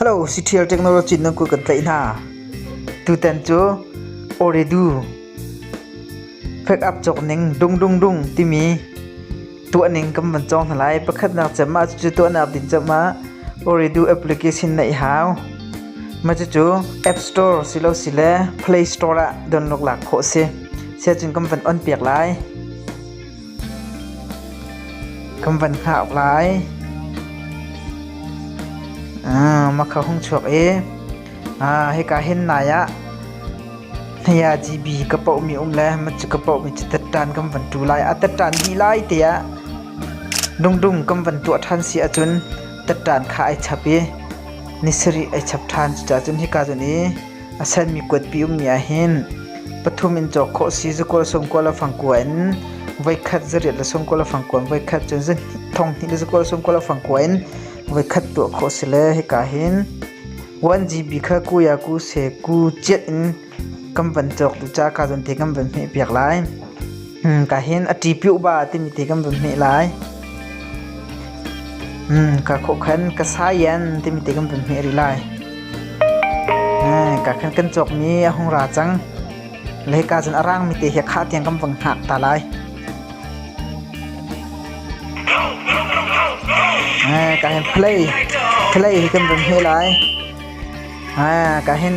Siṭhial technology na kut kan tlaih hna. Tutan cu Ooredoo fek up cawk ning dungdungdung timi tuahning kan van cawng hna lai. Pakhatnak cem ah cucu tuahnak din cem ah Ooredoo application na i hau. Cucu App Store silosile Play Store ah donlawk lak khawh a si. Siacun kan van on piak lai. Kan van hngah lai. Ah, makha hung chuak i ah hika hin nai ah hneya GB ka poh mi um le ma cu ka poh mi cu tettan kan van tu lai a tettan hi lai te ah dungdung kan van tuah than si ahcun tettan kha ai chap i ni sarih ai chap than cucahcun hika cun i A sanmi kuatpi ummi ah hin pathum in cawk khawh a si. Za kual, sawm kual a fang kua in voikhat za riat le sawm kual a fang kua in voikhat cun za thong hnih le za kual sawm kual a fang kua in voikhat tuah khawh a si le hika hin 1GB kha ku ya ku se ku ciat in kan van cawk tu ca ka zon te kan van hmeh piak lai. ka hin a ṭi piuh ba timi ti kan vun hmeh lai. Hmm, ka khawkhan ka sayan timi ti kan vun hmeh rih lai. Hmm, ka khan kan cawkmi a hung ra cang. Le ka cun a rangmi te hi khah tiang kan vang hngak ta lai. Eh, ka hin play, play hi kan vun hmeh lai. Ka hin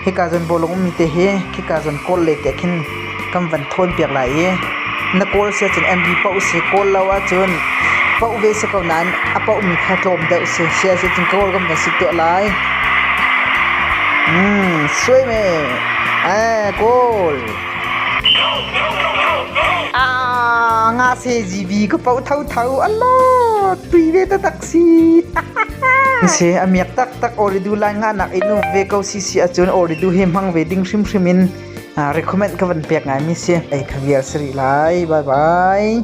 hika cun bawlung ummi te hi khika cun kawl le te khin kan van thawnpiak lai i na kawl si ahcun MV poh usih kawl lo ahcun poh ve si ko nain a pohmi kha tlawm deuh si si ahcun cun kawl kan van si tuah lai. Suai me kawl. Nga se GB ka poh tho tho. Allah tui ve ta tak An si, a miak taktak Oridu lai nga nak in uk ve ko si si ahcun Oridu he hmang ve ding hrimhrim in uh, recommend ka van pek ngai mi si. Ei ka vial sari lai. Bye bye.